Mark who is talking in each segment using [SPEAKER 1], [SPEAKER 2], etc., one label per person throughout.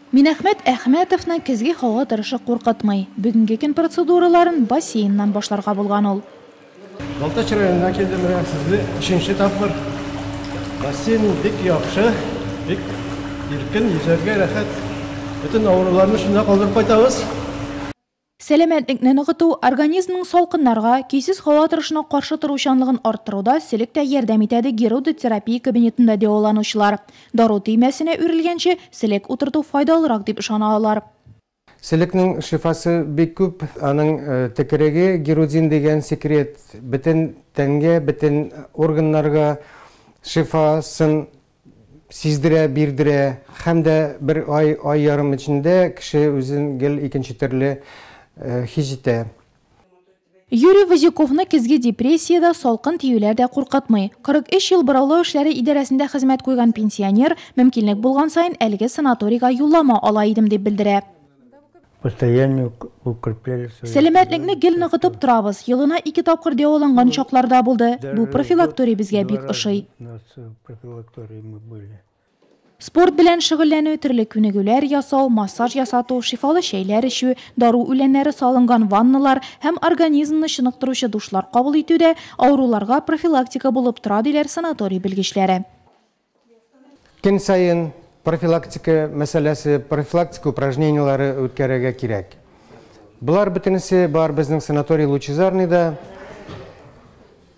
[SPEAKER 1] Минәхмәт Әхмәтовны көзге һава торышы куркытмый. Бүгенге көн процедураларын бассейннан башларга булган ул. Балтач
[SPEAKER 2] районына килдем менә сезне өченче тапкыр. Бассейн бик яхшы, бик иркен, йөзәргә рәхәт. Бөтен авыруларны шунда калдырып кайтабыз.
[SPEAKER 1] Сәламәтлекне ныгыту, организмның салкыннарга, көйсез һава торышына каршы торучанлыгын арттыруда селек тә ярдәм итә, ди герудотерапия кабинетында дәваланучылар. Дару төймәсенә үрелгәнче, селек утырту файдалырак дип ышана алар. Селекнең
[SPEAKER 2] шифасы бик күп. Аның текереге, герудин дигән секрет, бөтен тәнгә, бөтен органнарга шифасын сиздерә, бирдерә һәм дә бер ай, ай ярым эчендә кеше үзен гел икенче төрле хис итә.
[SPEAKER 1] Юрий Возюковны көзге депрессия дә, салкын тиюләр дә куркытмый. 43 ел бораулау эшләре идарәсендә хезмәт куйган пенсионер, мөмкинлек булган саен, әлеге санаторийга юллама ала идем, дип белдерә. Сәламәтлекне гел ныгытып торабыз. Елына ике тапкыр дәваланган чаклар да булды. Бу профилакторий безгә бик ошый. Спорт белән шөгыльләнү, төрле күнегүләр ясау, массаж ясату, шифалы чәйләр эчү, дару үләннәре салынган ванналар һәм организмны чыныктыручы душлар кабул итү дә авыруларга профилактика булып тора, диләр санаторий белгечләре.
[SPEAKER 2] Көн саен профилактика мәсьәләсе, профилактика упражнениеләре үткәрергә кирәк. Болар бөтенесе бар безнең санаторий Лучезарныйда.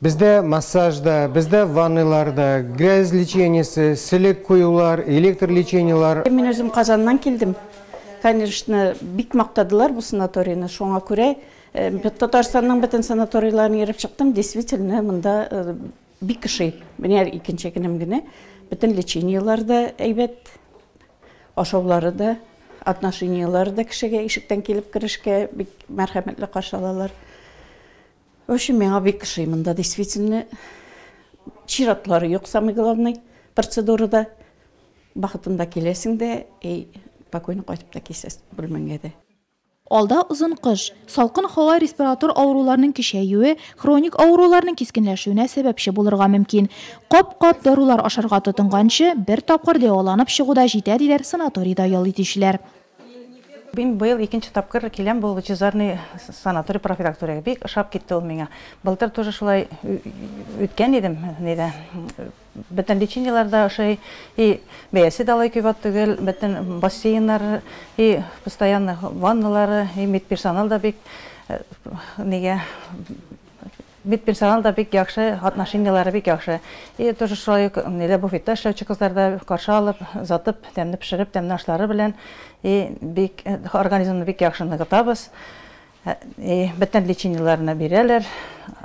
[SPEAKER 2] Бездә массаж да, бездә ваннайлар да, грязь лечениесе, селек куюлар, электр лечениеләр. Мин үзем Казаннан
[SPEAKER 3] килдем. Конечно, бик мактадылар бу санаторийны. Шуңа күрә Татарстанның бөтен санаторийларын йөреп чыктым. Действительно, монда Бик ошый. Менә икенче көнем генә бөтен лечениеләр дә әйбәт, ашаулары да, отношениеләре дә кешегә ишектән килеп керешкә бик мәрхәмәтле каршы алалар. В общем, миңа бик ошый монда действительно. Чиратлары юк, самый главный процедурада. Бахытында киләсең дә и спокойно кайтып та киләсең бүлмәңә дә. Алда озын
[SPEAKER 1] кыш. Салкын һава респиратор авыруларның көчәюе, хроник авыруларның кискенләшүенә сәбәпче булырга мөмкин. Кап-кап дарулар ашарга тотынганчы, бер тапкыр дәваланып чыгу да җитә, диләр санаторийда ял итүчеләр. Мин
[SPEAKER 4] быел икенче тапкыр киләм бу Лучезарный санаторий профилакториягә. Бик ошап китте ул миңа. Былтыр тоже шулай үткән идем, нидә. Бөтен лечениеләр дә ошый, и бәясе дә алай кыйбат түгел, бөтен бассейннар, и постоянно ванналар, и медперсонал да бик нигә медперсонал да бик яхшы, отношениеләре бик яхшы. И тоже шулай ук ниләр буфетта эшләүче кызлар да каршы алып, озатып, тәмле пешереп, тәмле ашлары белән и бик организмны бик яхшы ныгытабыз. Ни бөтен лечениеләренә бирәләр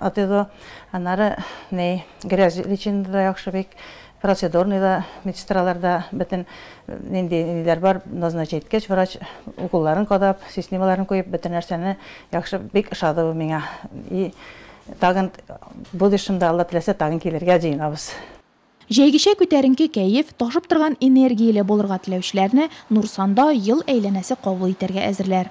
[SPEAKER 4] АТИЗО. Аннары ни грязь лечение дә яхшы бик, процедурный да, медсестралар да бөтен нинди ниләр бар, назначение иткәч, врач уколларын кадап, сиснималарын куеп, бөтен нәрсәне яхшы, бик ошады бу миңа. И тагын будущемдә Алла теләсә тагын килергә җыенабыз. Җәйгечә
[SPEAKER 1] күтәренке кәеф, ташып торган энергияле булырга теләүчеләрне Нурсанда ел әйләнәсе кабул итәргә әзерләр.